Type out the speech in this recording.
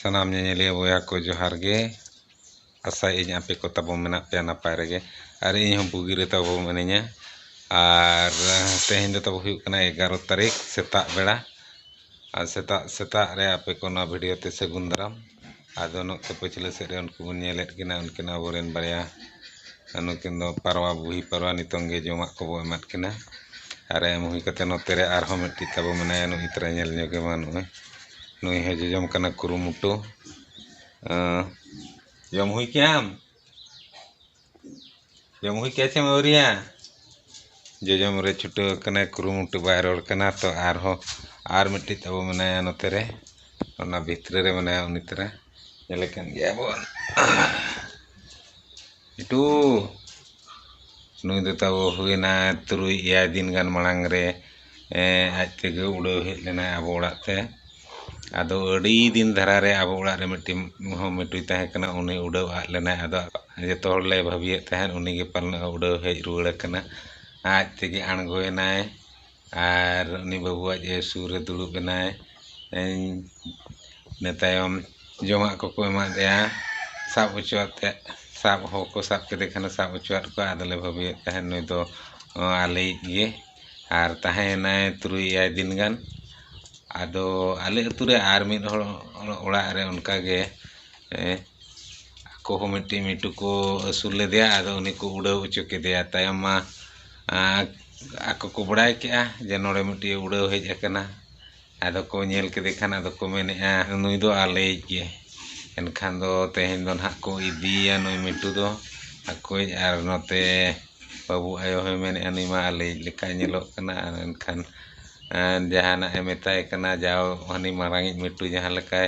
ᱥᱟᱱᱟᱢ ᱧᱮᱧᱮᱞᱤᱭᱟᱹ ᱵᱚᱭᱦᱟ ᱠᱚ ᱡᱚᱦᱟᱨ ᱜᱮ ᱟᱥᱟᱭᱮᱫᱟᱹᱧ ᱟᱯᱮ ᱠᱚ ᱛᱟᱵᱚ ᱢᱮᱱᱟᱜ ᱯᱮᱭᱟ ᱱᱟᱯᱟᱭ ᱨᱮᱜᱮ ᱟᱨ ᱤᱧ ᱦᱚᱸ ᱵᱩᱜᱤ ᱨᱮ ᱛᱟᱵᱚ ᱢᱤᱱᱟᱹᱧᱟ ᱟᱨ ᱛᱮᱦᱮᱧ ᱫᱚ ᱛᱟᱵᱚ ᱦᱩᱭᱩᱜ ᱠᱟᱱᱟ ᱮᱜᱟᱨᱚ ᱛᱟᱹᱨᱤᱠᱷ ᱥᱮᱛᱟᱜ ᱵᱮᱲᱟ ᱟᱨ ᱥᱮᱛᱟᱜ ᱥᱮᱛᱟᱜ ᱨᱮ ᱟᱯᱮ ᱠᱚ ᱱᱚᱣᱟ ᱵᱷᱤᱰᱤᱭᱳ ᱛᱮ ᱥᱟᱹᱜᱩᱱ ᱫᱟᱨᱟᱢ ᱟᱫᱚ ᱱᱚᱛᱮ ᱯᱟᱹᱪᱷᱞᱟᱹ ᱥᱮᱫ ᱨᱮ ᱩᱱᱠᱩ ᱵᱚᱱ ᱧᱮᱞᱮᱫ ᱠᱤᱱᱟ ᱩᱱᱠᱤᱱ ᱟᱵᱚ ᱨᱮᱱ ᱵᱟᱨᱭᱟ ᱱᱩᱠᱤᱱ ᱫᱚ ᱯᱟᱨᱣᱟ ᱵᱩᱦᱤ ᱯᱟᱨᱣᱟ ᱱᱤᱛᱚᱝ ᱜᱮ ᱡᱚᱢᱟᱜ ᱠᱚᱵᱚ ᱮᱢᱟᱫ ᱠᱤᱱᱟ ᱟᱨ ᱮᱢ ᱦᱩᱭ ᱠᱟᱛᱮᱫ ᱱᱚᱛᱮ ᱨᱮ ᱟᱨᱦᱚᱸ ᱢᱤᱫᱴᱤᱡ ᱛᱟᱵᱚ ᱢᱮᱱᱟᱭᱟ ᱱᱩᱭ ᱛᱟᱨᱟ ᱧᱮᱞ ᱧᱚᱜᱮ ᱢᱟ ᱱᱚᱜᱼᱚᱭ ᱱᱩᱭ ᱦᱚᱸ ᱡᱚᱡᱚᱢ ᱠᱟᱱᱟ ᱠᱩᱨᱩᱢᱩᱴᱩ ᱡᱚᱢ ᱦᱩᱭ ᱠᱮᱜᱼᱟᱢ ᱡᱚᱢ ᱦᱩᱭ ᱠᱮᱜᱼᱟ ᱪᱮᱢ ᱟᱹᱣᱨᱤᱭᱟ ᱡᱚᱡᱚᱢ ᱨᱮ ᱪᱷᱩᱴᱟᱹᱣ ᱠᱟᱱᱟᱭ ᱠᱩᱨᱩᱢᱩᱴᱩ ᱵᱟᱭ ᱨᱚᱲ ᱠᱟᱱᱟ ᱛᱚ ᱟᱨᱦᱚᱸ ᱟᱨ ᱢᱤᱫᱴᱤᱡ ᱛᱟᱵᱚ ᱢᱮᱱᱟᱭᱟ ᱱᱚᱛᱮ ᱨᱮ ᱚᱱᱟ ᱵᱷᱤᱛᱨᱤ ᱨᱮ ᱢᱮᱱᱟᱭᱟ ᱩᱱᱤ ᱛᱟᱨᱟ ᱧᱮᱞᱮ ᱠᱟᱱ ᱜᱮᱭᱟ ᱵᱚᱱ ᱵᱤᱴᱩ ᱱᱩᱭ ᱫᱚ ᱛᱟᱵᱚ ᱦᱩᱭᱮᱱᱟ ᱛᱩᱨᱩᱭ ᱮᱭᱟᱭ ᱫᱤᱱ ᱜᱟᱱ ᱢᱟᱲᱟᱝ ᱨᱮ ᱟᱡ ᱛᱮᱜᱮ ᱩᱰᱟᱹᱣ ᱦᱮᱡ ᱞᱮᱱᱟᱭ ᱟᱵᱚ ᱚᱲᱟᱜ ᱛᱮ ᱟᱫᱚ ᱟᱹᱰᱤ ᱫᱤᱱ ᱫᱷᱟᱨᱟ ᱨᱮ ᱟᱵᱚ ᱚᱲᱟᱜ ᱨᱮ ᱢᱤᱫᱴᱤᱱ ᱢᱤᱦᱩ ᱢᱤᱴᱩᱭ ᱛᱟᱦᱮᱸ ᱠᱟᱱᱟ ᱩᱱᱤ ᱩᱰᱟᱹᱣ ᱟᱫ ᱞᱮᱱᱟᱭ ᱟᱫᱚ ᱡᱚᱛᱚ ᱦᱚᱲ ᱞᱮ ᱵᱷᱟᱹᱵᱤᱭᱮᱫ ᱛᱟᱦᱮᱸᱫ ᱩᱱᱤ ᱜᱮ ᱯᱟᱞᱮᱱ ᱩᱰᱟᱹᱣ ᱦᱮᱡ ᱨᱩᱣᱟᱹᱲ ᱠᱟᱱᱟ ᱟᱡ ᱛᱮᱜᱮ ᱟᱬᱜᱚᱭᱮᱱᱟᱭ ᱟᱨ ᱩᱱᱤ ᱵᱟᱹᱵᱩᱣᱟᱜ ᱡᱮ ᱥᱩᱨ ᱨᱮ ᱫᱩᱲᱩᱵ ᱮᱱᱟᱭ ᱤᱱᱟᱹ ᱛᱟᱭᱚᱢ ᱡᱚᱢᱟᱜ ᱠᱚᱠᱚ ᱮᱢᱟᱫᱮᱭᱟ ᱥᱟᱵ ᱦᱚᱪᱚ ᱟᱛᱮᱫ ᱥᱟᱵ ᱦᱚᱲ ᱠᱚ ᱥᱟᱵ ᱠᱮᱫᱮ ᱠᱷᱟᱱ ᱥᱟᱵ ᱦᱚᱪᱚ ᱟᱫ ᱠᱚᱣᱟ ᱟᱫᱚᱞᱮ ᱵᱷᱟᱹᱵᱤᱭᱮᱫ ᱛᱟᱦᱮᱱ ᱱᱩᱭ ᱫᱚ ᱟᱞᱮᱭᱤᱡ ᱜᱮ ᱟᱨ ᱛᱟᱦᱮᱸᱭᱮᱱᱟᱭ ᱛᱩᱨᱩᱭ ᱮᱭᱟᱭ ᱫᱤᱱ ᱜᱟᱱ ᱟᱫᱚ ᱟᱞᱮ ᱟᱛᱳ ᱨᱮ ᱟᱨ ᱢᱤᱫ ᱦᱚᱲ ᱚᱲᱟᱜ ᱨᱮ ᱚᱱᱠᱟ ᱜᱮ ᱟᱠᱚ ᱦᱚᱸ ᱢᱤᱫᱴᱤᱡ ᱢᱤᱴᱩ ᱠᱚ ᱟᱹᱥᱩᱞ ᱞᱮᱫᱮᱭᱟ ᱟᱫᱚ ᱩᱱᱤ ᱠᱚ ᱩᱰᱟᱹᱣ ᱦᱚᱪᱚ ᱠᱮᱫᱮᱭᱟ ᱛᱟᱭᱚᱢ ᱢᱟ ᱟᱠᱚ ᱠᱚ ᱵᱟᱲᱟᱭ ᱠᱮᱫᱼᱟ ᱡᱮ ᱱᱚᱰᱮ ᱢᱤᱫᱴᱤᱡ ᱮ ᱩᱰᱟᱹᱣ ᱦᱮᱡ ᱟᱠᱟᱱᱟ ᱟᱫᱚ ᱠᱚ ᱧᱮᱞ ᱠᱮᱫᱮ ᱠᱷᱟᱱ ᱟᱫᱚ ᱠᱚ ᱢᱮᱱᱮᱫᱼᱟ ᱱᱩᱭ ᱫᱚ ᱟᱞᱮᱭᱤᱡ ᱜᱮ ᱮᱱᱠᱷᱟᱱ ᱫᱚ ᱛᱮᱦᱮᱧ ᱫᱚ ᱱᱟᱦᱟᱜ ᱠᱚ ᱤᱫᱤᱭᱮᱭᱟ ᱱᱩᱭ ᱢᱤᱴᱩ ᱫᱚ ᱟᱠᱚᱭᱤᱡ ᱟᱨ ᱱᱚᱛᱮ ᱵᱟᱹᱵᱩ ᱟᱭᱳ ᱦᱚᱸᱭ ᱢᱮᱱᱮᱫᱼᱟ ᱱᱩᱭ ᱢᱟ ᱟᱞᱮᱭᱤᱡ ᱞᱮᱠᱟᱭ ᱧᱮᱞᱚᱜ ᱠᱟᱱᱟ ᱟᱨ ᱮᱱᱠᱷᱟᱱ ᱡᱟᱦᱟᱱᱟᱜ ᱮ ᱢᱮᱛᱟᱭ ᱠᱟᱱᱟ ᱡᱟᱣ ᱦᱟᱹᱱᱤ ᱢᱟᱨᱟᱝ ᱤᱡ ᱢᱤᱴᱩ ᱡᱟᱦᱟᱸ ᱞᱮᱠᱟᱭ